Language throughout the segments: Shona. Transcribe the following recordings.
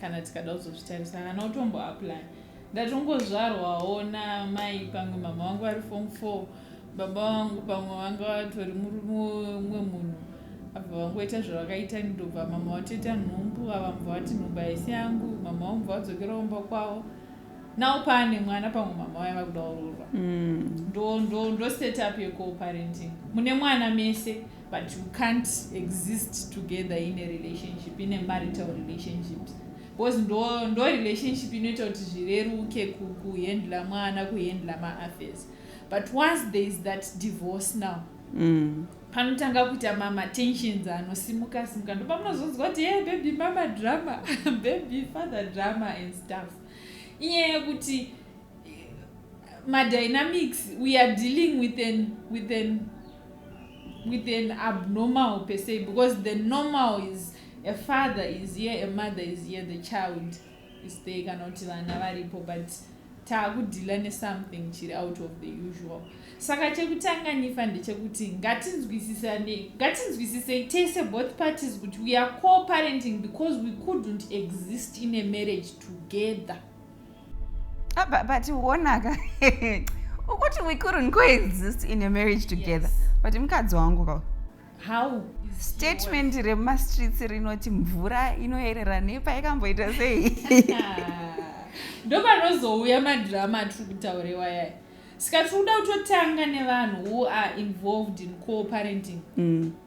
kana tikada kuzozvitarisa kana utombo apply ndatongozvarwawo namai pamwe mama wangu vari fom four baba wangu pamwe vanga vatori murumwe munhu abva vangoita zvavakaita ndobva mama vatoita nhumbu vavambva vati nhumbu haisi yangu mama vambva vadzokera kumba kwavo now paane mwana pamwe mama vaya vakuda ururwa mm. ndo ndo ndo setup yecoparenting mune mwana mese But you can't exist together in a relationship, in a marital relationship. Because ndo, ndo relationship inoita kuti zvireruke kuhendla mwana kuhendla maaffairs but once there is that divorce now mm. panotanga kuita mamatensions anosimuka simuka ndo pamunozonzwa kuti hey baby mama drama baby father drama and stuff inyaya yekuti madynamics we are dealing with an, with an with an abnormal per se because the normal is a father is here a mother is here the child is there kana kuti vana varipo but taakudhila nesomething chiri out of the usual saka chekutanga nifa ndechekuti ngatinzwisisane ngatinzwisisei tese both parties kuti we are coparenting because we couldn't exist in a marriage together Ah, but, but uonaka ukuti we couldn't coexist in a marriage together yes. but mukadzi wangu ka how statement remumastreets rinoti mvura inoyerera nepa ikamboita sei ndopanozouya madrama atiri kutaurewa yaya saka tiri kuda kutotanga nevanhu who are involved in coparenting mm.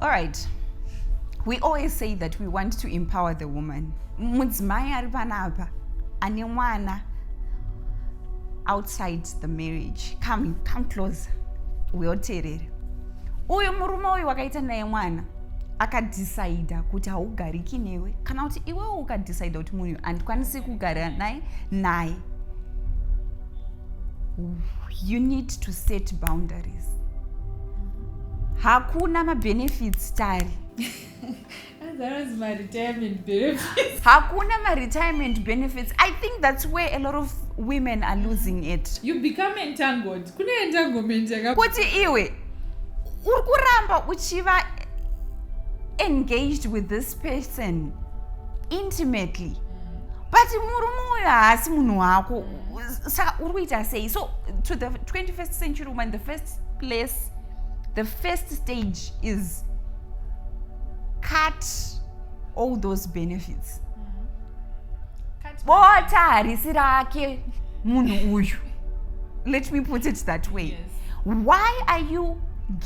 All right. We always say that we want to empower the woman. Mudzimai ari panapa ane mwana outside the marriage. Come, come closer. Uyoterere. Uyu murume uyu wakaita naye mwana akadhisaidha kuti haugariki newe kana kuti iwewo ukadhisaidha kuti munhu handikwanisi kugara naye naye you need to set boundaries hakuna mabenefits tari hakuna maretirement benefits i think that's where a lot of women are losing it you become entangled kune entanglement kuti iwe uri kuramba uchiva engaged with this person intimately but murume uyo haasi munhu wako saka uri kuita sei so to the 21st century woman the first place the first stage is cut all those benefits mm-hmm. bota harisi rake munhu uyu let me put it that way yes. why are you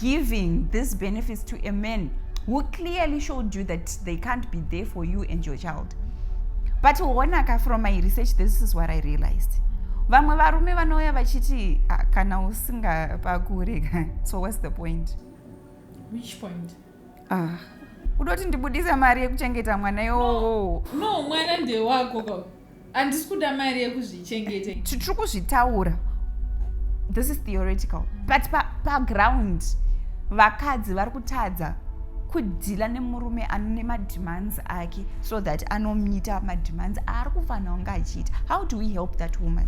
giving these benefits to a man who clearly showed you that they can't be there for you and your child but honaka from my research this is what i realized vamwe varume vanouya vachiti ah, kana usingapakure so whats the point which point ah kudoti ndibudise mari yekuchengeta mwana iwowo no, no mwana ndewako handisi kuda mari yekuzvichengeta titiri kuzvitaura this is theoretical but paground pa vakadzi vari kutadza kudhila nemurume ane mademands ake so that anomita mademands aari kufanira kunge achiita how do we help that woman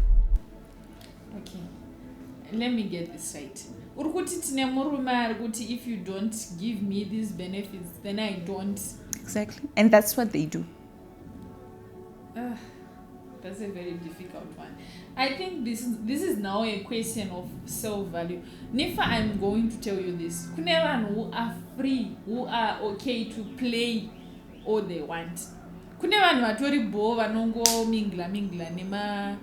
okay let me get this right uri kuti tine murume ari kuti if you don't give me these benefits then i don't exactly and that's what they do Uh, that's a very difficult one. I think this is, this is now a question of self value. Nifa, I'm going to tell you this. Kunevan who are free, who are okay to play all they want. Kune vanhu vatori bho vanongo mingla mingla nema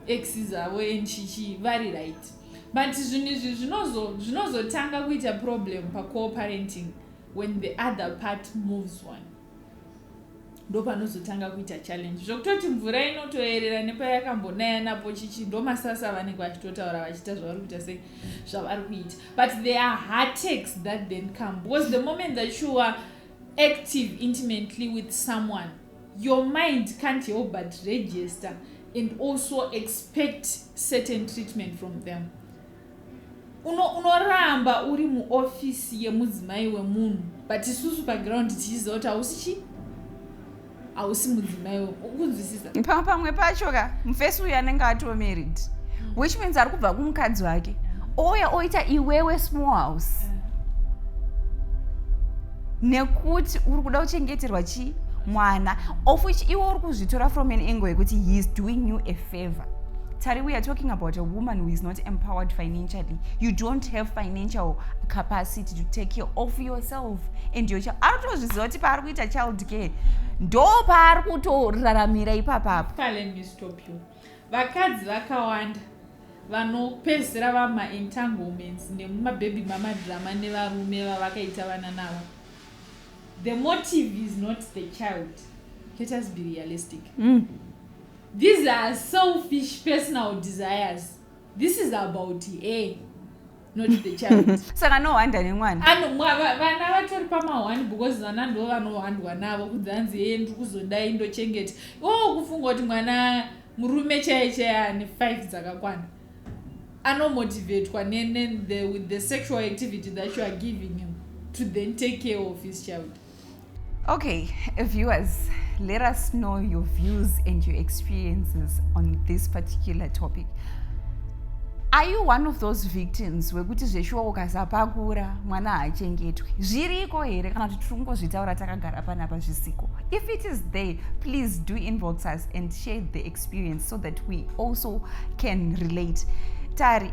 exes avo and chichi vari right. But zvinhu izvi zvinozotanga kuita problem pa co-parenting. when the other part moves on ndopanozotanga kuita challenge zvokutoti mvura inotoerera nepayakambonaya napo chichi ndomasasa avanenge vachitotaura vachiita zvavari kuita se zvavari kuita but there are heartakes that then come because the moment that you are active intimately with someone your mind can't help but register and also expect certain treatment from them uno unoramba uri muofisi yemudzimai wemunhu but isusu paground tichiziva kuti hausi chi hausi mudzimai wekunzwisisa pamwe pamwe pacho ka mufesi uyu anenge atoo married mm. which means ari kubva kumukadzi wake ouya oita iwewe small house mm. nekuti uri kuda kuchengeterwa chii mwana of which iwe uri kuzvitora from an angle yekuti he is doing you a favor tari we are talking about a woman who is not empowered financially you don't have financial capacity to take care of yourself and your child ari kutozviziva kuti paari kuita child care ndo paari kutoraramira ipapapo vakadzi vakawanda vanopedzisira vamaentanglements nemumabhebhi mamadhirama nevarume vavakaita vana navo the motive is not the child let us be realistic mm. These are selfish personal desires. This is about her. not the child saka anohwanda nemwana vana vatori pamahwani because vana ndo vanohwandwa navo kudzanzi heye ndiri kuzodai ndochengeta o oh, kufunga kuti mwana murume chaiye chaiye ane five dzakakwana anomotivatwa with the sexual activity that you are giving him to then take care of his child Okay, viewers, let us know your views and your experiences on this particular topic. Are you one of those victims wekuti zveshuwa ukasapakura mwana haachengetwe zviriko here kana kuti tiri kungozvitaura takagara panapa zvisiko if it is there please do inbox us and share the experience so that we also can relate tari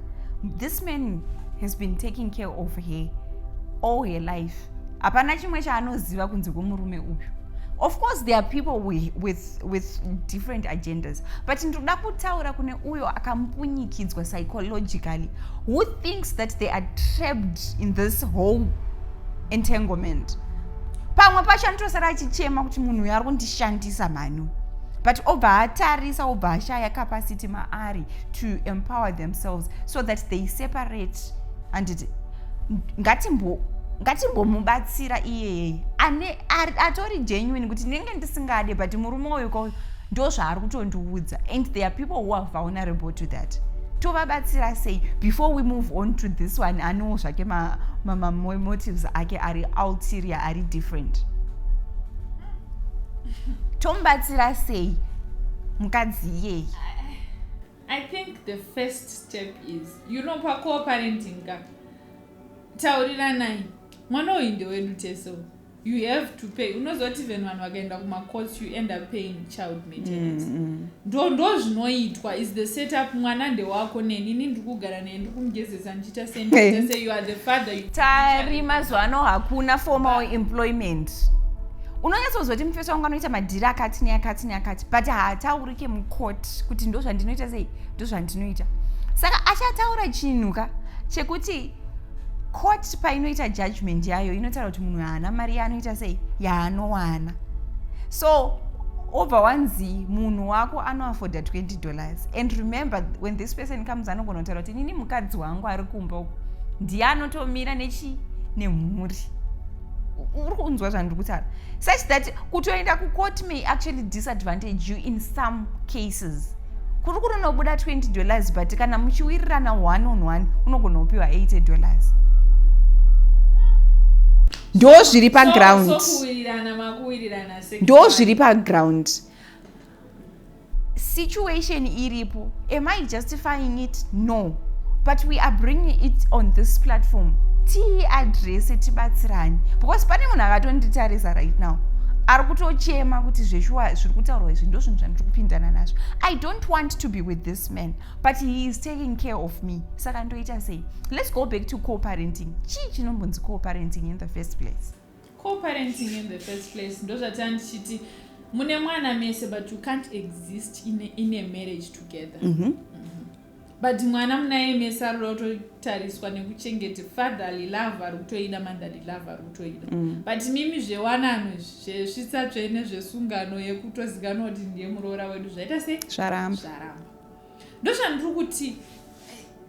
this man has been taking care of her all her life hapana chimwe chaanoziva kunze kwemurume uyu of course there are people with, with, with different agendas but ndinoda kutaura kune uyo akampunyikidzwa psychologically who thinks that they are trapped in this whole entanglement pamwe pacho anotosara achichema kuti munhu uyo ari kundishandisa mhani but obva atarisa obva ashaya capacity maari to empower themselves so that they separate handiti ngatimbo ngatimbomubatsira iyeye ane atori genuine kuti ndinenge ndisingade but murume uyu ko ndo zvaari kutondiudza and there are people who are vulnerable to that tovabatsira sei before we move on to this one anewo zvake mamotives ake ari ulterior ari different tomubatsira sei mukadzi iyeyi I think the first step is you know pacoparenting ka tauriranai mwana uyu ndewedu tese you have to pay unozoti even vanhu vakaenda kumacourts you end up paying child maintenance mm, mm. ndo ndo zvinoitwa is the setup mwana ndewako neni ini ndikugara naye ndikumugezesa tari mazuva ano hakuna formal employment unonyatsonzwa kuti mufesi wangu anoita madhiri akati neakati neakati but haataurike mukoti kuti ndo zvandinoita sei ndo zvandinoita saka achataura chinhu ka chekuti court painoita judgment yayo inotaura kuti munhu haana mari yaanoita sei yaanowana so obva wanzi munhu wako anoafforda 20 dollars and remember when this person comes anogona kutaura inini mukadzi wangu ari kumba uku ndiye anotomira nechi nemhuri uri kunzwa zvandiri kutaura such that kutoenda kucourt may actually disadvantage you in some cases kuri kunonobuda 20 dollars but kana muchiwirirana one on one unogona kupiwa 80 dollars ndo zviri paground ndo zviri paground situation iripo am i justifying it no but we are bringing it on this platform tiiadrese tibatsirani because pane munhu akatonditarisa right now ari kutochema kuti zveshuwa zviri kutaurwa izvi ndo zvinhu zvandiri kupindana nazvo i don't want to be with this man but he is taking care of me saka ndoita sei let's go back to coparenting chii chinombonzi coparenting in the first place coparenting in the first place ndozvataa ndichiti mune mwana mese but you can't exist in a, in a marriage together mm -hmm. but mwana munaye mese ari kuda kutotariswa nekuchengete fatherly love ari kutoida motherly love ari kutoida mm. but mimi zvewanano zvesvitsa tsvene zvesungano yekutozikanwa kuti ndiye muroora wedu zvaita sei zvaramba zvaramba ndozvandiri kuti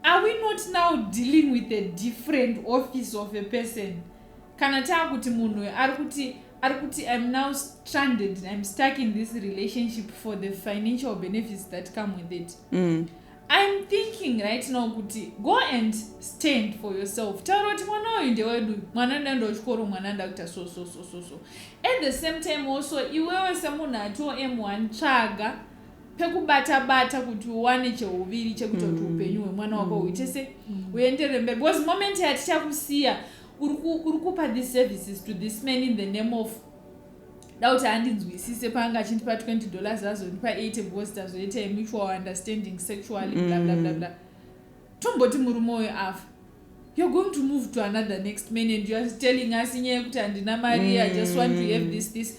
are we not now dealing with a different office of a person kana taakuti munhu uyo ari kuti ari kuti im now stranded im stuck in this relationship for the financial benefits that come with it mm. im thinking right now kuti go and stand for yourself taura kuti mwana uyu ndewedu mwana ndaenda kuchikoro mwana ndakuita so so so so so at the same time also iwewe semunhu ati om1 tsvaga pekubata bata kuti uwane cheuviri chekuita kuti mm. upenyu hwemwana wako mm. huite se mm. uendere mberi because moment yatichakusiya uri kupa these services to this man in the name of da kuti handinzwisise paanga achindipa 20 dollars azondipa 80 because tazoita mutual understanding sexually bla bla bla bla tomboti murume uyo afa you're going to move to another next man and youare telling us inyaya yekuti handina mari i just want to have this this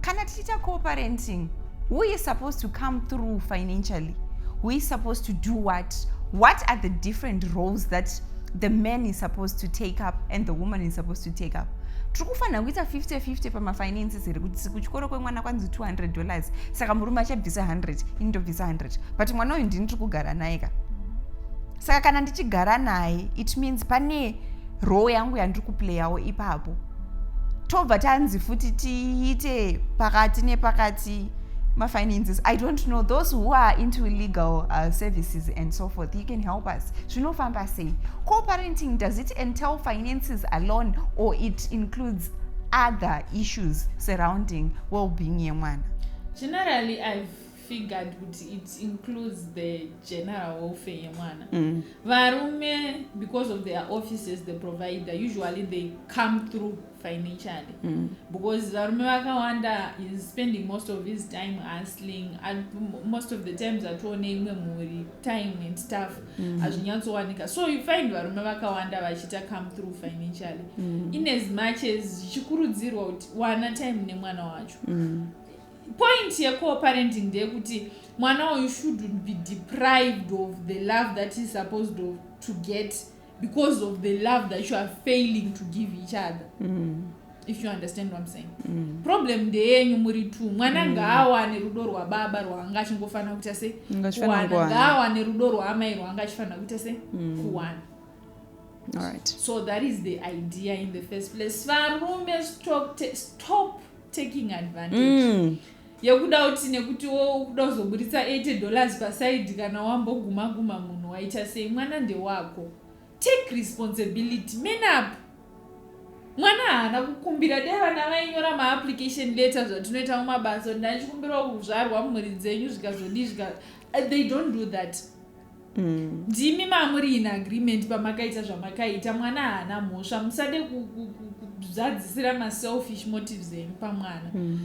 kana tichiita cooperating who is supposed to come through financially who is supposed to do what what are the different roles that the man is supposed to take up and the woman is supposed to take up tiri kufanira kuita 50-50 pamafinances here kuti kuchikoro kwemwana kwanzi 200 dollars saka murume achabvisa 100 ini ndobvisa 100 but mwana uyu ndini tiri kugara naye ka saka kana ndichigara naye it means pane roo yangu yandiri kuplayawo ipapo tobva tanzi futi tiite pakati nepakati mafinances i don't know those who are into legal uh, services and so forth you can help us zvinofamba sei co-parenting does it entail finances alone or it includes other issues surrounding well-being yemwana generally i've figured kuti it includes the general welfare yemwana mm. varume because of their offices the provider usually they come through financially mm. because varume vakawanda is spending most of his time hustling and most of the times atione imwe mhuri time and stuff mm. hazvinyatsowanika mm. so you find varume vakawanda vachita come through financially mm. in as much as zvichikurudzirwa kuti wana time nemwana wacho mm. Point ye co-parenting ndeyekuti mwana uyu shouldn't be deprived of the love that is supposed of, to get because of the love that you are failing to give each other mm. if you understand what I'm saying mm. problem ndeyenyu muri two mwana mm. ngaawane rudo rwababa rwaanga achingofanira kuita se kuwana ngaawane rudo rwaamai rwaanga achifanira kuita se mm. kuwana All right. so that is the idea in the first place varume stop, stop taking advantage mm. yekuda kuti nekuti wo ukuda kuzoburitsa 80 dollars pasaidi kana wamboguma guma munhu waita sei mwana ndewako take responsibility man up mwana haana kukumbira dai vana vainyora maapplication letter zvatinoita mumabasa kuti ndanichikumbirawo kuzvarwa mumhuri dzenyu zvikazodii zvika uh, they don't do that Mm. ndimi mamuri in agreement pamakaita zvamakaita mwana haana mhosva musade kuzadzisira maselfish motives enyu pamwana mm.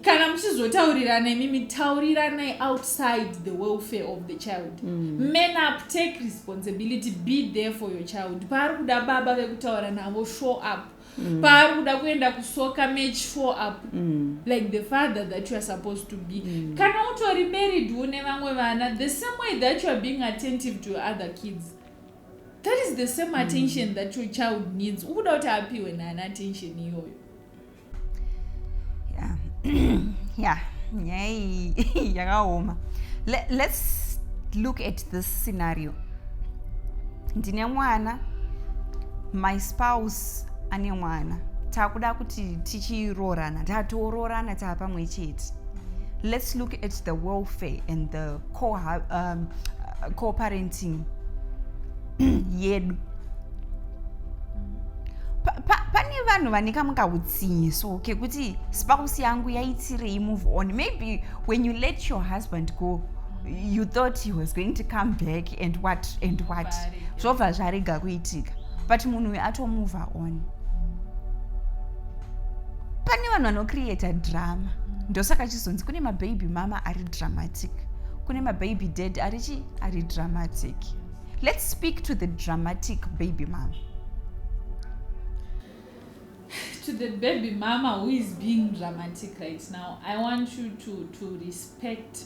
kana muchizotaurirana imimi tauriranai outside the welfare of the child mm. man up take responsibility be there for your child paari kuda baba vekutaura navo show up mm. paari kuda kuenda kusoka match four up mm. like the father that you are supposed to be mm. kana utori married une vamwe vana the same way that you are being attentive to other kids that is the same mm. attention mm. that your child needs ukuda kuti apiwe nani attention iyoyo yeah. yeah. nyaya iyi yakaoma let's look at this scenario ndine mwana my spouse ane mwana takuda kuti tichiroorana tatoroorana taa pamwe chete let's look at the welfare and the um, co-parenting yedu pane vanhu vane kamwe kautsinye so kekuti spouse yangu yaitirei move on maybe when you let your husband go you thought he was going to come back and what and what zvobva zvarega kuitika but munhu uyu atomove on pane vanhu vanocreata drama ndosaka chizonzi kune mababy mama ari dramatic kune mababy dad ari chi ari dramatic let's speak to the dramatic baby mama to the baby mama who is being dramatic right now i want you to, to respect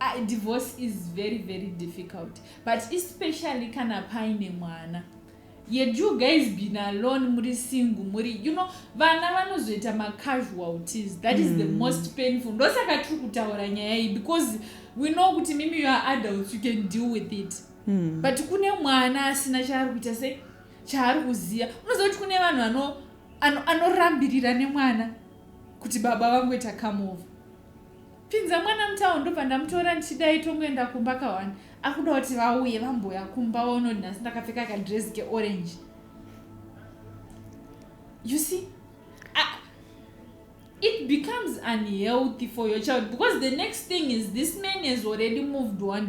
uh, divorce is very very difficult but especially kana paine mwana yet you guys been alone muri single muri you know vana vanozoita macasualties that is mm. the hmm. most painful ndosaka tiri kutaura nyaya iyi because we know kuti mimi you are adults you can deal with it mm. but kune mwana asina chaari kuita se chaari kuziva unoziva kuti kune vanhu anorambirira nemwana kuti baba vangoita come over Pinza mwana mutown ndobva ndamutora ndichidai tongoenda kumba kawani akuda kuti vauye vambouya kumba vaonoti nhasi ndakapfeka kadress keorange you see uh, it becomes unhealthy for your child because the next thing is this man has already moved one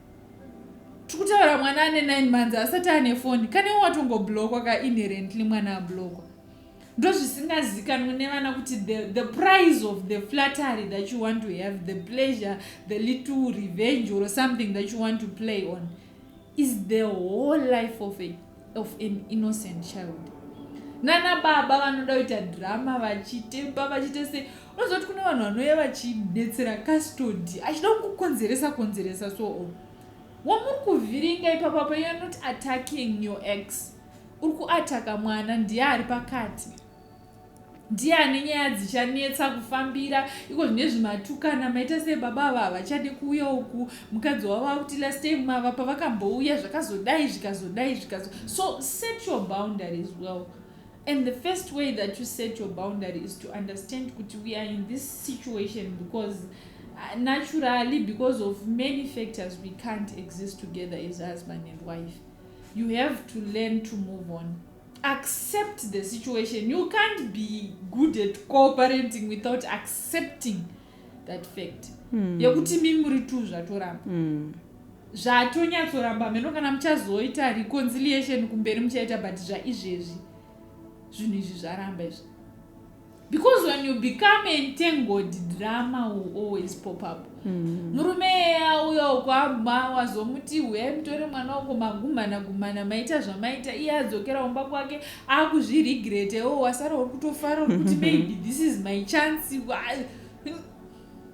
tikutaura mwana ane 9 months asati ane foni kanewo watongoblokwa ka inherently mwana ablokwa ndozvisingazikanwe nevana kuti the, the price of the flattery that you want to have the pleasure the little revenge or something that you want to play on is the whole life of a of an innocent child nana baba vanoda kuita drama vachitepa vachite sei unozoti kune vanhu vanouya vachibetsera custody achida kukukonzeresa konzeresa so o wamuri kuvhiringa ipapa pa youare not attacking your ex uri kuataka mwana ndiye ari pakati ndiani nyaya dzichanetsa kufambira iko zvine zvimatukana maita sei baba ava havachade kuuya uku mukadzi wavo akuti last time mava pavakambouya zvakazodai zvikazodai zvikazo so set your boundary as well and the first way that you set your boundary is to understand kuti we are in this situation because uh, naturally because of many factors we can't exist together as husband and wife you have to learn to move on accept the situation you can't be good at cooperating without accepting that fact mm. yekuti mi muri tu zvatoramba mm. zvatonyatsoramba meno kana muchazoita reconciliation kumberi muchaita but zvaizvezvi zvinhu izvi zvaramba izvi because when you become entangled drama will always pop up mm-hmm. murume eya uya ukwabva wazomuti huyai mutore mwana uko magumhana gumhana maita zvamaita iye adzokera umba kwake akuzviregrete o wasara uri kutofara uri kuti maybe this is my chance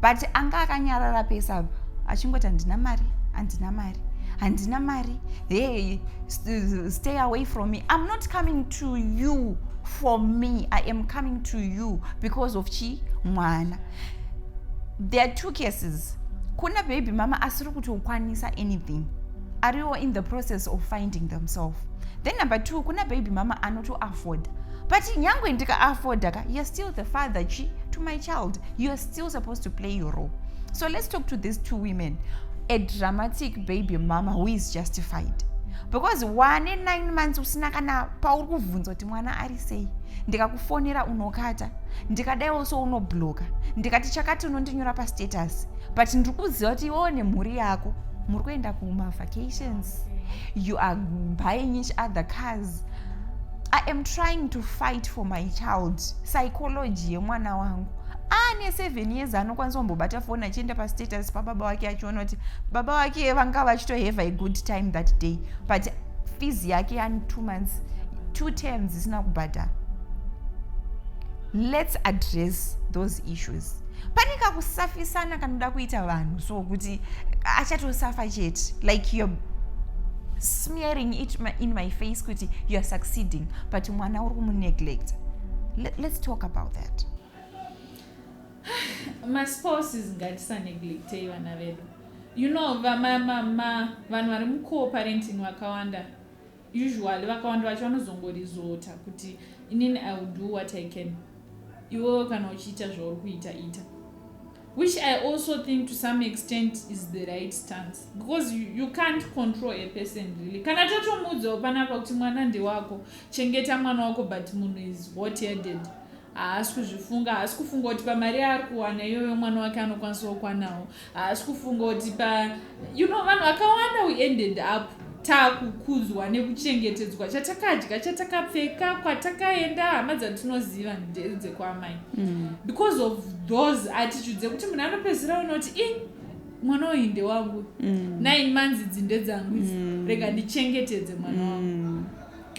but anga akanyarara pese apa achingoti handina mari handina mari handina mari hey stay away from me i'm not coming to you for me i am coming to you because of chi mwana there are two cases kuna baby mama asiri kutokwanisa anything ariwo in the process of finding themselves then number two kuna baby mama anotoafforda but nyangwe ndikaafoda ka you're still the father chi to my child you're still supposed to play your role so let's talk to these two women a dramatic baby mama who is justified because wane nine months usina kana pauri kuvhunza kuti mwana ari sei ndikakufonera unokata ndikadaiwo so unobloka ndikati chakati unondinyora pastatus but ndiri kuziva kuti iwewo nemhuri yako muri kuenda kumavacations you are buying each other cars I am trying to fight for my child psychology yemwana wangu aane seven years anokwanisa kumbobata foni achienda pastatus pababa wake achiona kuti baba wake vanga vachitohave a good time that day but fees yake yani two months two terms isina kubhadhara let's address those issues pane kakusafisana kanoda kuita vanhu so kuti achatosafa chete like you're smearing it in my face kuti you're succeeding but mwana uri kumuneglect let's talk about that maspouses ngatisaneglectei vana vedu you know vanhu vari mucoparenting vakawanda Usually vakawanda vacho vanozongorizota kuti inini I will do what I can. Iwewe kana uchiita zvauri kuita ita. Which I also think to some extent is the right stance because you, you can't control a person really. Kana totomuudzawo panapa kuti mwana ndewako, chengeta mwana wako but munhu is hot headed. haasi kuzvifunga haasi kufunga kuti pamari yaari kuwana iyoyo mwana wake anokwanisa kukwanawo haasi kufunga kuti pa you know vanhu vakawanda we ended up takukudzwa nekuchengetedzwa chatakadya chatakapfeka kwatakaenda hama dzatinoziva ndedzekwaamai mm. because of those attitudes ekuti munhu anopedzisira ona kuti i mwana uyu ndewangu mm. nine months idzi ndedzangu idzi mm. rega ndichengetedze mwana wangu mm.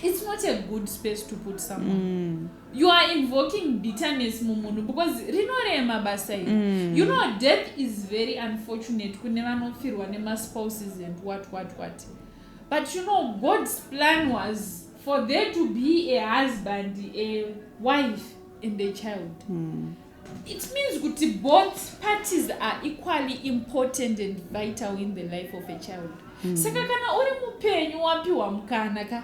it's not a good space to put someone mm. you are invoking bitterness mumunhu because rinorema basa iri mm. you know death is very unfortunate kune vanofirwa nemaspouses and what what what but you know god's plan was for there to be a husband a wife and a child mm. it means kuti both parties are equally important and vital in the life of a child mm. saka kana uri mupenyu wapiwa mukana ka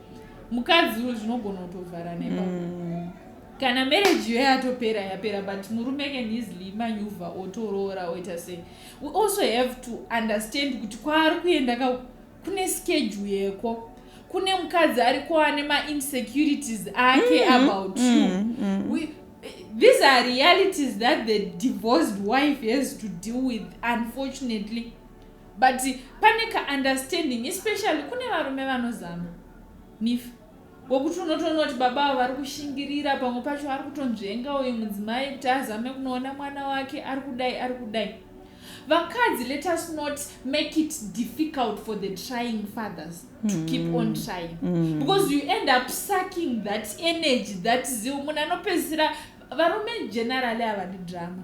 mukadzi uyo zvinogona kutovhara nepa mm. kana marriage yo yatopera yapera but murume can easily manyuvha otoroora oita sei we also have to understand kuti kwaari kuenda ka kune schedule yeko kune mukadzi ari kuane mainsecurities ake mm, about mm, you mm, mm. We, these are realities that the divorced wife has to deal with unfortunately but pane ka understanding especially kune varume vanozama nifa wekuti unotoona kuti baba avo vari kushingirira pamwe pacho ari kutonzvenga uyu mudzimai kuti azame kunoona mwana wake ari kudai ari kudai vakadzi let us not make it difficult for the trying fathers to mm. keep on mm. trying mm. because you end up sucking that energy that zeal munhu anopedzisira varume generally havadi drama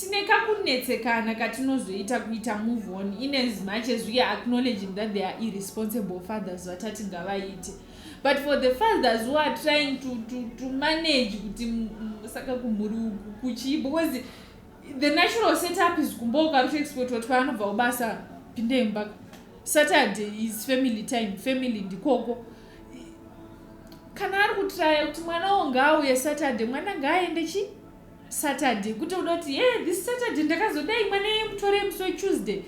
tine kakunetsekana katinozoita kuita move on in as much as weare acknowledging that they are irresponsible fathers vatati ngavaite but for the fathers who are trying to, to, to manage kuti saka kumhuri uku kuchii because the natural setup is kumba ukarutoexport wati kwaanobva ubasa pindembaka saturday is family time family ndikoko kana ari kutraya kuti mwana wo ngaauye saturday mwana ngaaende chi saturday kuti uda kuti ye yeah, this saturday ndakazodai mwana ye mutore musi wetuesday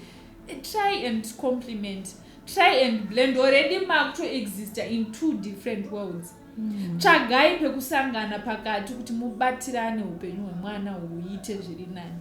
eh, try and compliment try and blend already makuto exista in two different worlds mm. tsvagai pekusangana pakati kuti mubatirane upenyu hwemwana huite zviri nani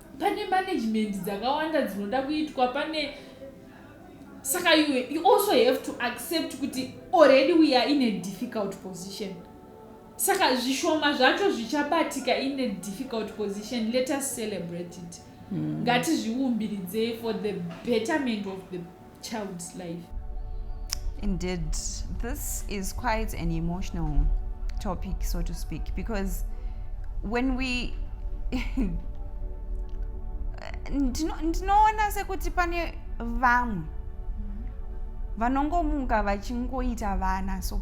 pane management dzakawanda dzinoda kuitwa pane saka you, you also have to accept kuti already we are in a difficult position saka zvishoma zvacho zvichabatika in a difficult position let us celebrate it mm. ngatizviumbiridzei for the betterment of the child's life indeed this is quite an emotional topic so to speak because when we ndinoona sekuti pane vamwe vanongomuka vachingoita vana so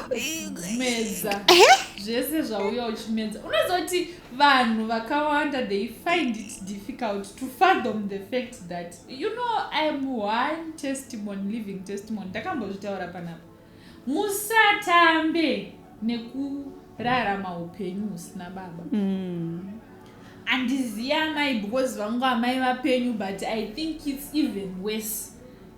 meza zvese zvauya uchimedza unozoti vanhu vakawanda they find it difficult to fathom the fact that you know iam one testimony living testimony ndakambozvitaura panapa musatambe nekurarama upenyu husina baba mm. andiziva amai because vangu amai vapenyu but i think its even worse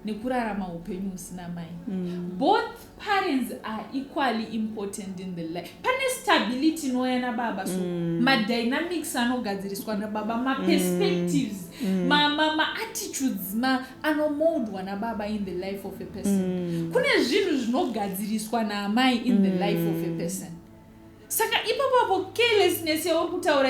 nekurarama upenyu husina mai mm. both parents are equally important in the life pane stability inouya nababa so mm. madynamics anogadziriswa nababa maperspectives mm. mm. maattitudes ma, ma, ma anomoldwa nababa in the life of a person mm. kune zvinhu zvinogadziriswa naamai in mm. the life of a mm. person saka ipapapo carelessness yauri kutaura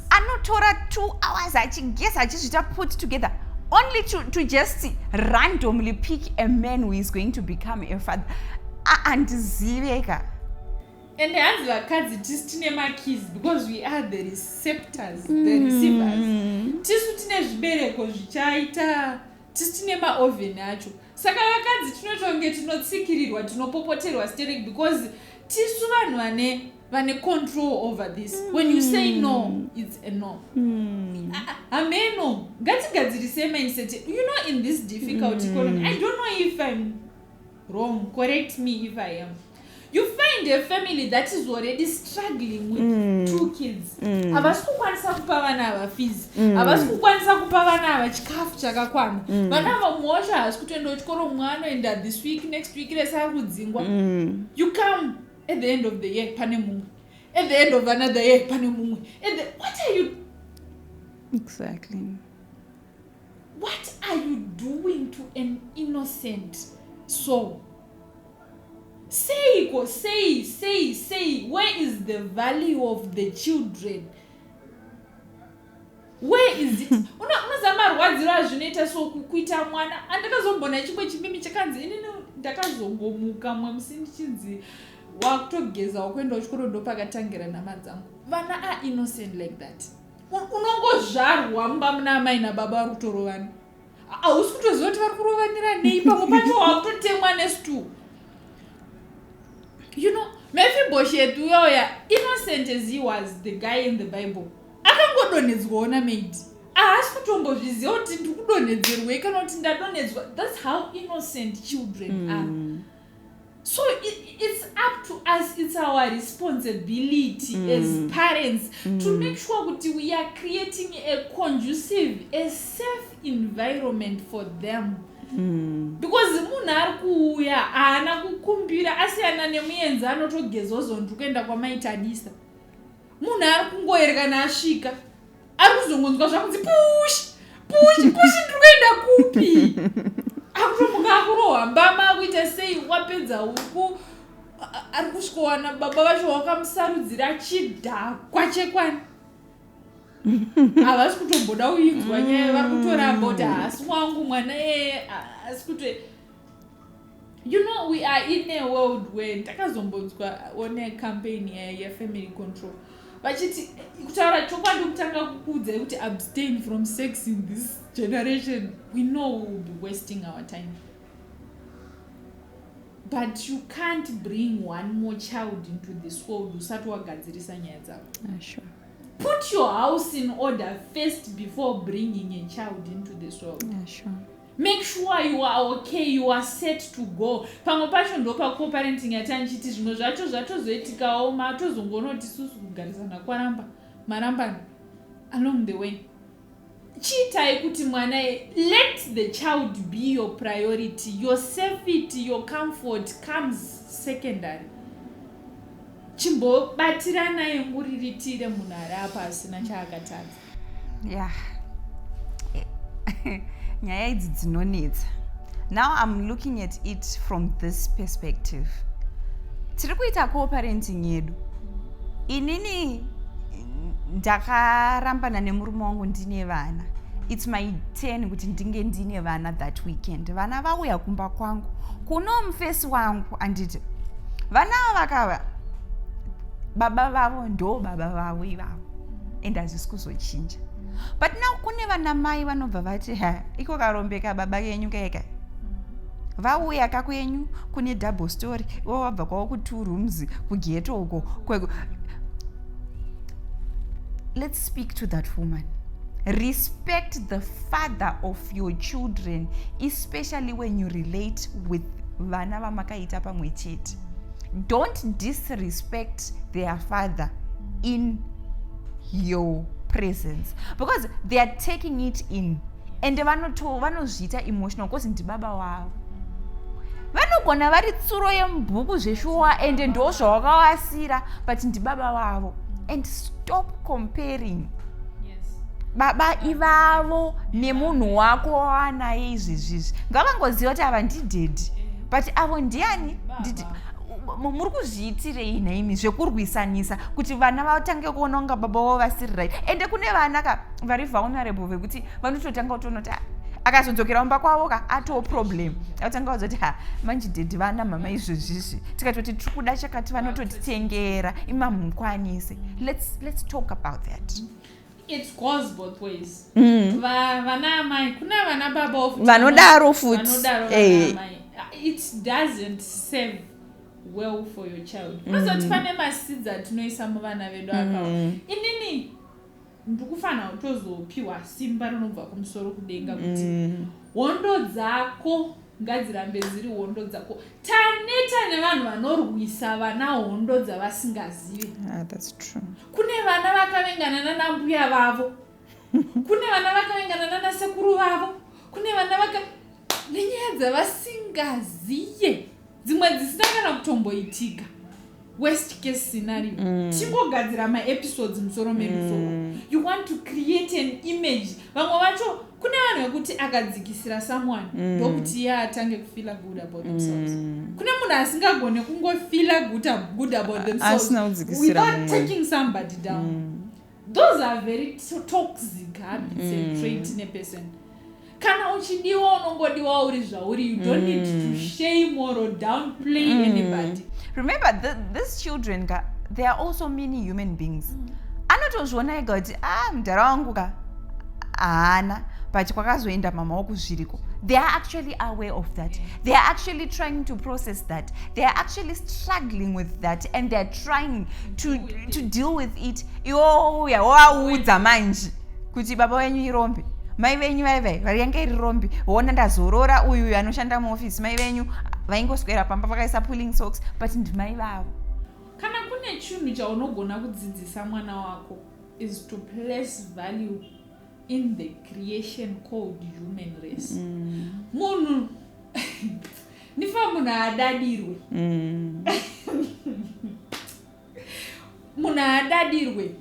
anotora two hours achigeza achizvita put together only to, to just randomly pick a man who is going to become a father andiziveka and hanzi vakadzi tisu tine makeys because we are the receptors mm. the receivers mm. tisu tine zvibereko zvichaita tisu tine maoven acho saka vakadzi tinotonge tinotsikirirwa tinopopoterwa sterek because tisu vanhu vane vane control over this mm. when you say hmm. no it's a no hmm. ah, ah, hameno mm. ngatigadzirise mindset you know in this difficult mm. economy i don't know if i'm wrong correct me if i am you find a family that is already struggling with mm. two kids mm. havasi mm. kukwanisa kupa vana ava fees mm. havasi mm. kukwanisa kupa vana ava chikafu chakakwana mm. vana mm. ava muosha havasi kutoenda kuchikoro mwana anoenda this week next week resaa kudzingwa mm. you come at the end of the year pane mumwe at the end of another year pane mumwe at the what are you exactly what are you doing to an innocent soul seiko sei sei sei where is the value of the children where is it unoziva marwadziro azvinoita so kuita mwana andakazombona chimwe chimimi chakanzi inini ndakazongomuka mwe musi ndichinzi wakutogeza wakuendawo chikoro ndopakatangira nama dzangu vana a innocent like that unongozvarwa mumba muna amai nababa vari kutorovana hausi kutoziva kuti vari kurovanira nei pamwe pacho wakutotemwa nestool you know mefiboshet uyoya innocent as he was the guy in the bible akangodonhedzwawo namaid ahasi kutombozviziva kuti ndiri kudonhedzerwei kana kuti ndadonhedzwa thats how innocent children mm. are so it, it's up to us it's our responsibility mm. as parents mm. to make sure kuti we are creating a conducive a safe environment for them Hmm. because munhu ari kuuya haana kukumbira asiyana nemuenzi anotogezozondu kuenda kwamaitadisa munhu ari kungoerekana asvika ari kuzongonzwa zvakunzi pushi pushi pushi ndiri kuenda kupi akutomuka akurohwa mbama akuita sei wapedza uku ari kusvikowana baba vacho wakamusarudzira chidhakwa chekwani havasi kutomboda uinzwa nyaya vari kutoramba kuti haasi wangu mwana eye haasi kuto you know we are in a world where ndakazombonzwa one campaign yefamily control vachiti kutaura chokwadi kutanga kukuudzai kuti abstain from sex in this generation we know we will be wasting our time but you can't bring one more child into this world usati wagadzirisa nyaya dzavo ah, sure. put your house in order first before bringing a child into this world ah, sure. Make sure you are okay, you are set to go. Pamwe pacho ndopa coparenting yati andichiti zvimwe zvacho zvatozoitikawo matozongonoti susu kugarisana kwaramba marambana along the way. Chiitai kuti mwana let the child be your priority, your safety, your comfort comes secondary. Chimbobatirana yemuriritire munhu ari apa asina chaakatadza. yeah nyaya idzi dzinonetsa now i'm looking at it from this perspective tiri kuita cooperating yedu inini ndakarambana nemurume wangu ndine vana its my ten kuti ndinge ndine vana that weekend vana vauya kumba kwangu kuno mufesi wangu anditi vana vakava baba vavo ndo baba vavo ivavo and hazvisi kuzochinja but now kune vana mai vanobva vati ha iko karombeka baba kenyu kaika vauya kako yenyu kune double story ivo vabva kwavo ku-two rooms kugeto uko kweko let's speak to that woman respect the father of your children especially when you relate with vana vamakaita pamwe chete don't disrespect their father in your presence because they are taking it in and vanozviita emotional because ndibaba wavo vanogona vari tsuro yemubhuku zveshuwa and ndo zvawakavasira but ndibaba vavo and stop comparing baba ivavo nemunhu wako waanaye izvezvizvi ngavangoziva kuti ava ndidhedhi but avo ndiani nditi muri kuzviitirei nhaimi zvekurwisanisa kuti vana vatange kuona kunga baba vavo vasiri right ende kune vana ka vari vulnerable vekuti vanototanga kutoona kuti ah, akazodzokera kumba kwavo ka atoo problem atanga kuza kuti ha manje dedi vana mama izvezvizvi tikatoti tiri kuda chakati vanototitengera imamukwanise let's, let's talk about that mm -hmm. It goes both ways. Mm. Va, vana amai kuna vana baba of vanodaro futi. Vanodaro vana eh. amai. It doesn't save well for your child. Mm. Unozoti mm. pane masidza tinoisa muvana vedu mm. akawo. Inini ndikufanira kutozopiwa simba rinobva kumusoro kudenga kuti mm. hondo dzako Ngadzirambe dziri hondo dzako. Taneta nevanhu vanorwisa vana hondo dzavasingazivi. Ah, that's true. Kune vana vakavengana nana mbuya vavo. Kune vana vakavengana nana sekuru vavo. Kune vana vaka nenyaya dzavasingaziye. Dzimwe dzisina kana kutomboitika. worst case scenario mm. tingogadzira maepisodes musoro medu so mm. you want to create an image vamwe vacho kune vanhu vekuti akadzikisira someone mm. ndokuti iye atange kufila good about themselves mm. kune munhu asingagone kungofila good about themselves without taking somebody down mm. those are very toxic habits mm. and trait in a person kana uchidiwa unongodiwa uri zvauri you don't mm. need to mm. shame or downplay mm. anybody remember th these children ka they are also many human beings mm. anotozviona ega kuti ah mdhara wangu ka haana but kwakazoenda mama wako zviriko they are actually aware of that yeah. they are actually trying to process that they are actually struggling with that and they are trying to, to deal with it iwouya wovaudza manje kuti baba wenyu irombe mai venyu vaivai vari yange iri rombi wona ndazorora uyu uyu anoshanda muofisi mai venyu vaingoswera pamba vakaisa pulling socks but ndimai vavo kana kune chinhu chaunogona kudzidzisa mwana wako is to place value in the creation called human race mm. munhu mm. Nifa munhu haadadirwe. Mm. munhu haadadirwe.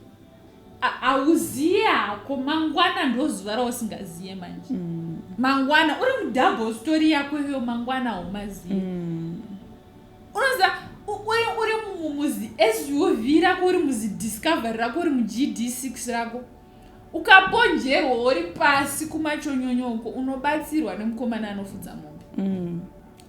Hauziye hako mangwana ndozuva rausingaziye manje. Mm. Mangwana uri mudouble story yako iyo mangwana haumaziye. Mm. Unoziva uri mumuzi SUV rako uri muzidiscovery rako uri muGD6 rako. Ukaponjerwa wori pasi kumachonyonyo uko unobatsirwa nemukomana anofudza mombe. Mm.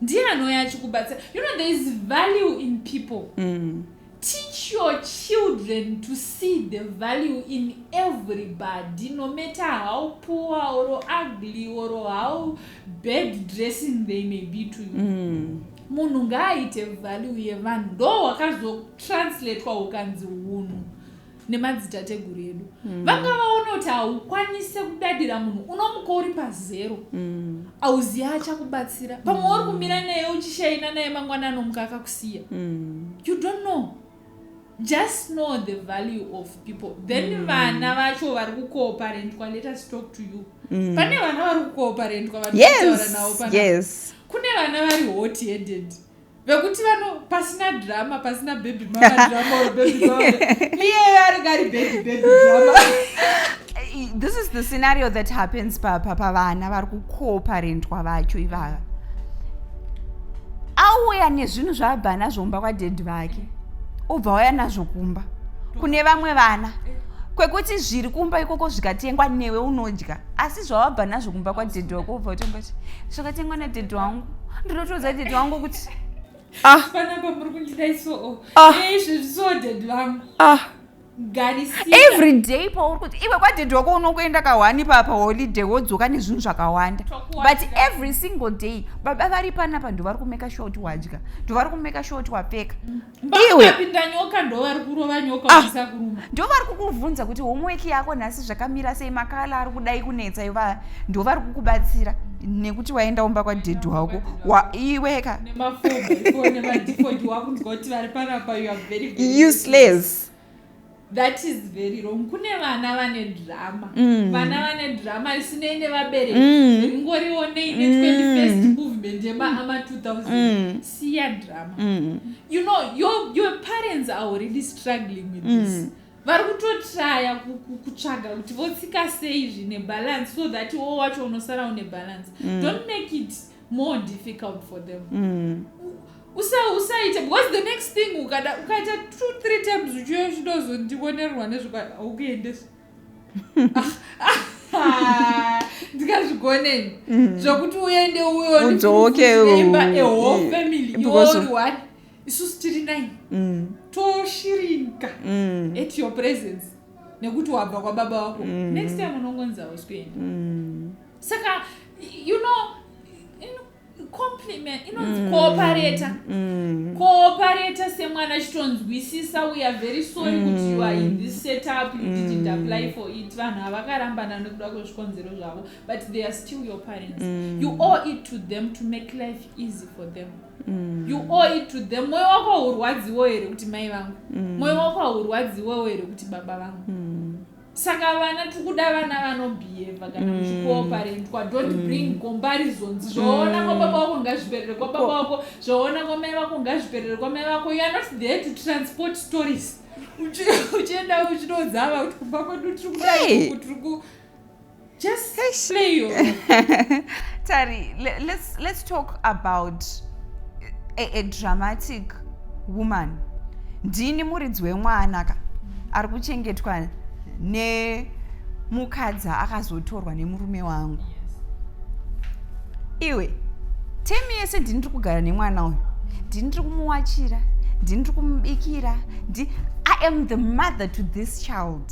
Ndiye anouya achikubatsira. You know there is value in people. Mm. Teach your children to see the value in everybody no matter how poor or ugly or how bad dressing they may be to you. Mm. Munhu ngaaite value yevanhu ndo wakazotranslatewa ukanzi hunhu. nemadzitateguru edu mm. vanga vaona kuti haukwanise kudadira munhu unomuka uri pazero mm. auzivi achakubatsira pamwe mm. uri kumira naye uchishaina naye mangwana anomuka akakusiya mm. you don't know just know the value of people then mm. vana vacho vari kukooparentwa let us talk to you mm. pane vana vari kukooparentwa vataura yes. navo pana yes. kune vana vari hot headed vekuti vano pasina drama pasina baby mama drama or baby mama iyeyo aringa ari baby baby drama this is the scenario that happens papa pavana vari kukoparentwa vacho ivava auya nezvinhu zvaabva nazvo mumba kwadhedhi vake obva waya nazvo kumba kune vamwe vana kwekuti zviri kumba ikoko zvikatengwa newe unodya asi zvawabva nazvo kumba kwadhedhi wako obva utombati zvakatengwa nadhedhi wangu ndinotoudza dad wangu kuti ah. panapa muri kundida isoo ah. eh, izvi zvisoo dad vangu ah. every day pauri kuti iwe kwadad wako unokuenda kahwani papa holiday wodzoka nezvinhu zvakawanda but every single day baba vari panapa ndovari kumeka sure kuti wadya ndovari kumeka sure kuti wapfeka mm. iwe vapinda nyoka ndo vari kurova nyoka ah, vachisa kuruma ndo vari kukubvunza kuti homework yako nhasi zvakamira sei makala ari kudai kunetsa iva ndo vari kukubatsira nekuti waenda umba kwadhedhi wako iweka useless that is very wrong kune vana vane drama mm. vana vane drama isinei nevabereki mm. ringorionei ne 21st mm. movement yemaama 2000 siya drama you know your, your parents are already struggling with this vari kutotraya kutsvaga kuti votsika sei zvine balance so that wo wacho unosara une balance don't make it more difficult for them usaite because the next thing ukada ukaita two three times uchiuya uchidozondionerwa nezvaukuendesa ndikazvigoneni mm. zvokuti uende uyoudzokeimba ehol mm. family iori one isusu tiri nine mm. toshirinka at your presence nekuti wabva kwababa wako next time unongonzi ausikuenda saka you know compliment inonzi mm. cooperata mm. cooperata semwana achitonzwisisa we are very sorry mm. kuti you are in this setup you didn't mm. apply for it vanhu havakarambana nekuda kwezvikonzero zvavo but they are still your parents mm. you owe it to them to make life easy for them Mm. you owe it to them mwoyo wako haurwadziwo here kuti mai vangu mm. mwoyo mm. wako haurwadziwo here kuti baba vangu mm. saka vana tiri kuda vana vanobhiyevha kana mm. muchikooparentwa mm. dont mm. bring comparison zvoona mm. kwababa wako ngazviperere kwababa wako zvoona kwamai vako ngazviperere kwamai vako you are not there to transport stories uchienda uchinodzava kuti kumba kwedu tiri kudai tiri ku Just Eish. play your Tari, le- let's let's talk about a, a dramatic woman. Ndini muridzi wemwana ka ari kuchengetwa nemukadzi akazotorwa nemurume wangu. Iwe temi yese ndini ndiri kugara nemwana uyu. Ndini ndiri kumuwachira, ndini ndiri kumubikira, ndi I am the mother to this child.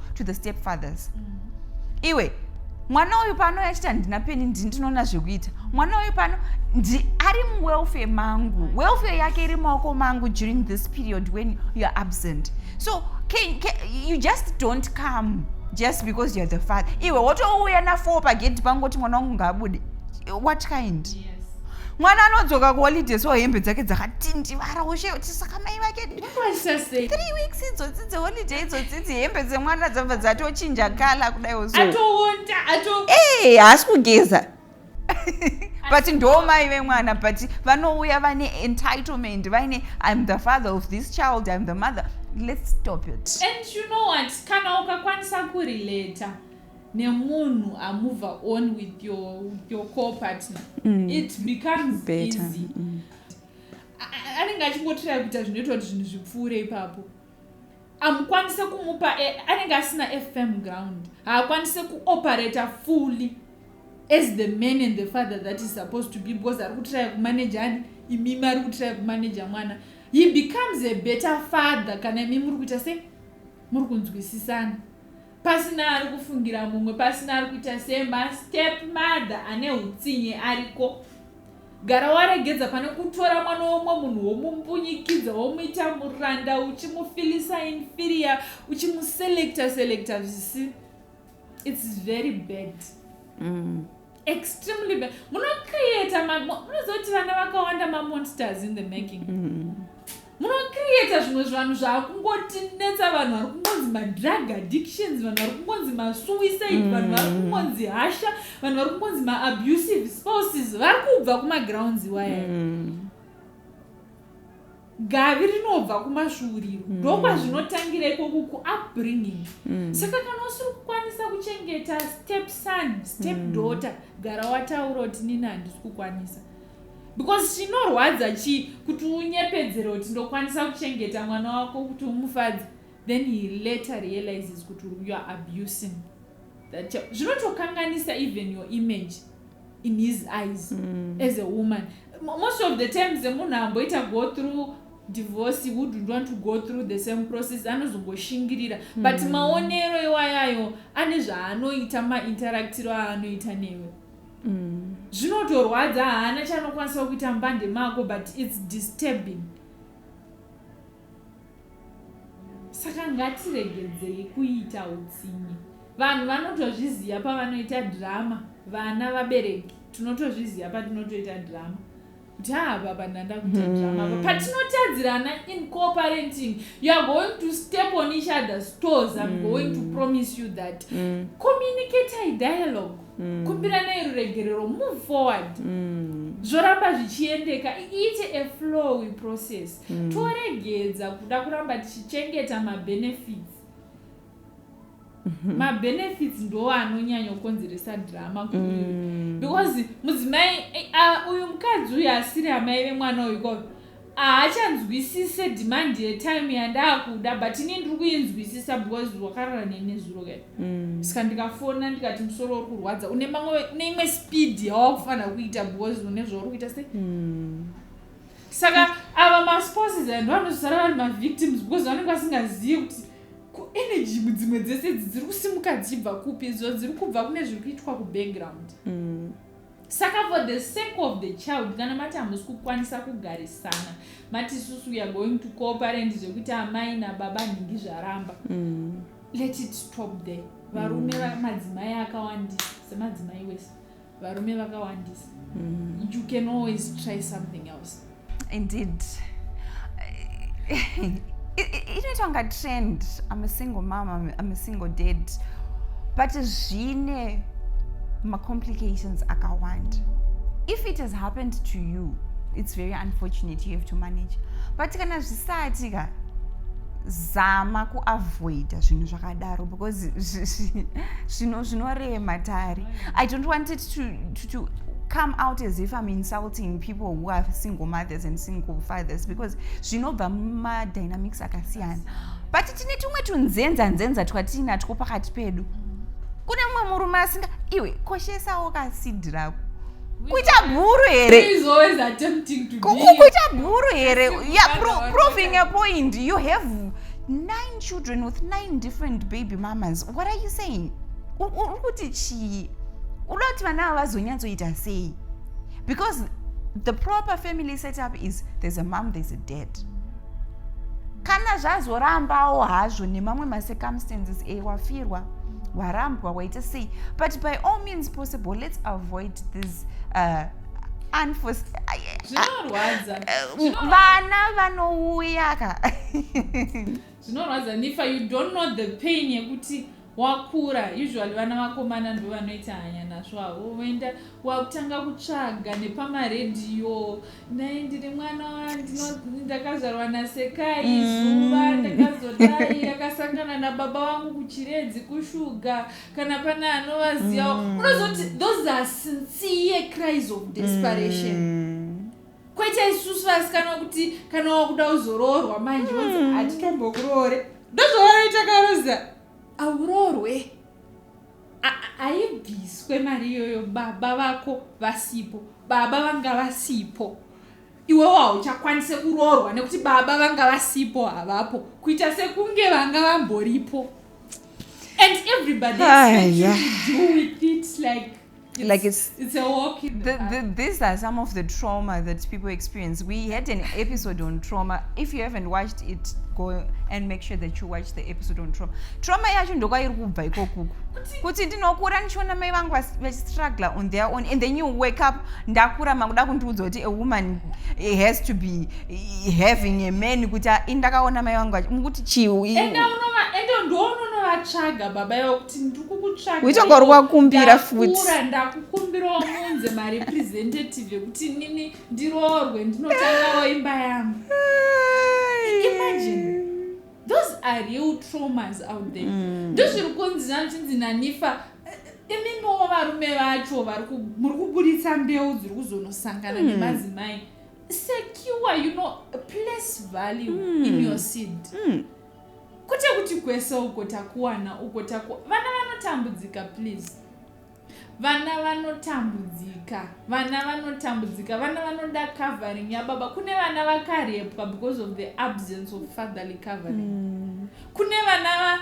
to the step fathers mm. iwe mwana uyu pano achiti handina peni ndinoona zvekuita mwana uyu pano ari muwelfare mangu welfare yake iri maoko mangu during this period when youare absent so can, can, you just don't come just because youare the father iwe wotouya nafour pagedhi pangu kuti mwana wangu ngaabude what kind yes mwana anodzoka kuholiday so hembe dzake dzakatindivara ushe kuti saka mai vake three weeks idzodzi dzeholiday idzodzi dzihembe dzemwana dzabva dzatochinja kala kudai uzoee haasi kugeza but ndo mai vemwana but vanouya vane entitlement vaine im the father of this child im the mother let's stop it and you know what kana ukakwanisa kurelata nemunhu amove on with your, your co partner mm. it becomes Better. easy mm. anenge achingotirai kuita zvinoitwa kuti zvinhu zvipfuure ipapo amukwanise kumupa e, anenge asina fm ground haakwanise kuoperata fully as the man and the father that is supposed to be because ari kutiraya kumanaja ani imimi ari kutiraya kumanaja mwana he becomes a better father kana imi muri kuita sei muri kunzwisisana pasina ari kufungira mumwe pasina ari kuita sema step mother ane utsinye ariko Gara waregedza pane kutora mwana womwe munhu womumbunyikidza womuita muranda uchimufilisa inferior uchimuselecta selecta zvisi its very bad mm. extremely bad munocreata munoziva kuti vana vakawanda mamonsters in the making mm. munocreata zvimwe zvanhu zvaakungotinetsa vanhu vari kungonzi madrug addictions vanhu vari kungonzi masuicide mm. vanhu vari kungonzi hasha vanhu vari kungonzi maabusive spouses vari kubva kumagrounds iwaya mm. gavi rinobva kumasvuuriro mm. ndokwazvinotangira mm. ikoko kuupbringing mm. saka kana usiri kukwanisa kuchengeta step son step mm. daughter mm. gara wataura kuti nini handisi kukwanisa because chinorwadza chii kuti unyepedzere kuti ndokwanisa kuchengeta mwana wako kuti umufadze then he later realizes kuti you are abusing that child zvinotokanganisa even your image in his eyes mm. as a woman most of the times munhu amboita go through divorce wouldn't want to go through the same process anozongoshingirira mm. but maonero iwayayo ane zvaanoita mainteractiro aanoita newe mm. zvinotorwadza haana chanokwanisa kuita mbande mako but its disturbing saka ngatiregedzei kuita utsinye vanhu vanotozviziva pavanoita drama vana vabereki tinotozviziva patinotoita drama ndaa baba ndanda kuita drama apa patinotadzirana in cooperating you are going to step on each other's toes im mm. going to promise you that mm. communicate i dialogue mm. kumbiranai ruregerero move forward mm. zvoramba zvichiendeka iite a flowy process mm. toregedza kuda kuramba tichichengeta mabenefits Mhm. mabenefits ndo anonyanya kukonzeresa drama mm. because mudzimai uh, uyu mukadzi uyu asiri amai vemwana uyu ko haachanzwisise demand yetime yandaakuda but ini ndiri kuinzwisisa because wakarara nene zuro ka mm. ska ndikafona ndikati musoro uri kurwadza une mamwe une imwe speed yawakufanira kuita because une zvauri kuita se mm. saka ava maspouses and vanosara vari mavictims because vanenge vasingazivi kuti ko energy dzimwe dzese idzi dziri kusimuka dzichibva kupi idzo dziri kubva kune zviri kuitwa kubackground mm. saka for the sake of the child kana mati hamusi kukwanisa kugarisana mati isusu we are going to cooperant zvekuti amai nababa nhingi zvaramba mm. let it stop there varume mm. madzimai akawandisa semadzimai wese varume vakawandisa mm. you can always try something else indeed inoitwa nga trend i'm a single mom i'm a single dad but zvine macomplications akawanda if it has happened to you it's very unfortunate you have to manage but kana zvisati ka zama kuavoida zvinhu zvakadaro because zvino zvinorema tari I don't want it to, to, to come out as if I'm insulting people who are single mothers and single fathers because zvinobva mumadynamics akasiyana but tine tumwe tunzenza nzenza twatiinatwo pakati pedu kune mumwe murume asinga iwe koshesawo kasidi rako kuita bhuru here kuita bhuru here yeah, pro, proving a point you have nine children with nine different baby mamas what are you saying uri kuti chii unoda kuti vana ava vazonyatsoita sei because the proper family setup is there's a mom there's a dad kana zvazorambawo hazvo nemamwe macircumstances e wafirwa warambwa waita sei but by all means possible let's avoid this uh, vana vanouya ka Zvinorwadza Nifa you don't know the pain yekuti wakura usually vana vakomana ndo vanoita hanya nazvo avo voenda wakutanga kutsvaga nepamaredhiyo nai ndiri mwana ndakazvarwa nasekai mm. zuva ndakazodai yakasangana nababa vangu kuchiredzi kushuga kana pane anovaziva mm. unozoti those are sincere cries of desperation mm. kwete isusu vasikana kuti kana wakuda uzoroorwa manje wonzi mm. hatitombokuroore ndozvavanoita karoza auroorwe haibviswe mari iyoyo baba vako vasipo baba vanga vasipo iwewo hauchakwanise kuroorwa nekuti baba vanga vasipo havapo kuita sekunge vanga vamboripo and everybody ah, yeah. do with it like It's, like it's it's a walk in the, the, the, these are some of the trauma that people experience we had an episode on trauma if you haven't watched it go and make sure that you watch the episode on trauma trauma yacho ndokwairi kubva ikokuku kuti ndinokura ndichiona mai vangu vachistruggle on their own and then you wake up ndakura makuda kundiudza kuti a woman has to be having a man kuti ah, ndakaona mai vangu mukuti chiuiende ndoononovatsvaga baba yavo uchanga uri wakumbira futi ndakukumbirawo munze marepresentative ekuti inini ndiroorwe ndinotangawo imba yangu imagine those are real traumas out there mm. ndozviri kunzi zvanochinzi nanifa imimiwo varume vacho muri kuburitsa mbeu dziri kuzonosangana mm. nemadzimai secure you know place value mm. in your seed mm. Kwete kuti kwese uko takuwana uko taku vana vanotambudzika please. Vana vanotambudzika. Vana vanotambudzika. Vana vanoda covering yababa. Kune vana vakarepwa because of the absence of fatherly covering. Mm. Kune vana va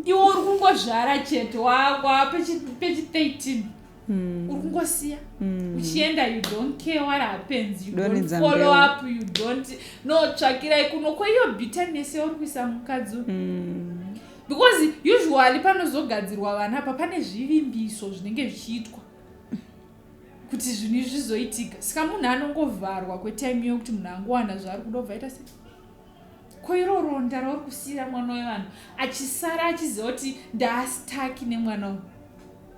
iwe uri kungozvara chete wava pechi 13 hmm. uri kungosiya hmm. uchienda you don't care what happens you don't follow up you don't no tsvakirai kuno kweiyo bitterness yauri kuisa mukadzi hmm. because usually panozogadzirwa vana apa pane zvivimbiso zvinenge zvichiitwa kuti zvinhu izvi zvizoitika saka munhu anongovharwa kwetime yokuti munhu angowana zvaari kuda ubva ita sei ko iro ronda rauri kusiira mwana wevanhu achisara achiziva kuti ndaastaki nemwana uyu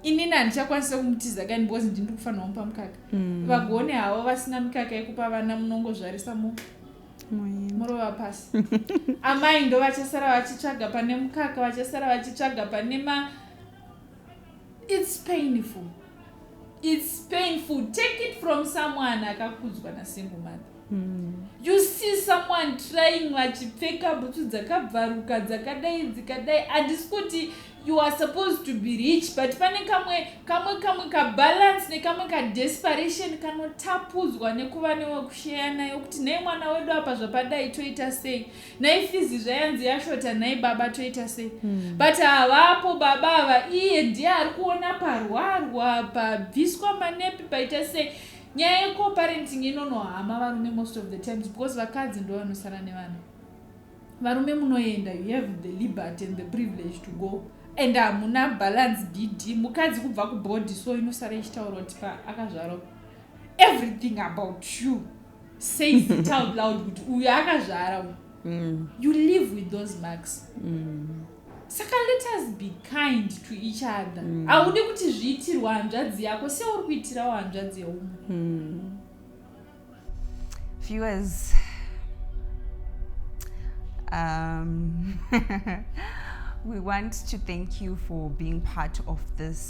inini handichakwanisa kumutiza kani because ndini ndikufanira kumupa mukaka mm. vagone havo vasina mikaka yekupa vana munongozvarisa mu murova pasi amai ndo vachasara vachitsvaga pane mukaka vachasara vachitsvaga pane ma its painful its painful take it from someone akakudzwa nasingle mother mm. you see someone trying vachipfeka bhutsu dzakabvaruka dzakadai dzikadai handisi kuti you are supposed to be rich but pane kamwe kamwe kamwe kabalance nekamwe kadesperation kanotapudzwa nekuva newekushaya nayo kuti nei mwana wedu apa zvapadai toita sei nhai fizi zvayanzi yashota nhai baba toita sei hmm. but havapo baba ava iye ndiye ari kuona parwarwa pabviswa manepi paita sei nyaya yecoparenting inonohama varume most of the times because vakadzi ndo vanosara nevana varume munoenda you have the liberty and the privilege to go and hamuna balance dd mukadzi kubva kubody so inosara ichitaura kuti pa akazvaro everything about you says it out loud kuti uyu akazvara uyu mm. you live with those marks mm. saka let us be kind to each other mm. haudi kuti zviitirwa hanzvadzi yako seuri kuitirawo hanzvadzi yeumwe mm. viewers um, we want to thank you for being part of this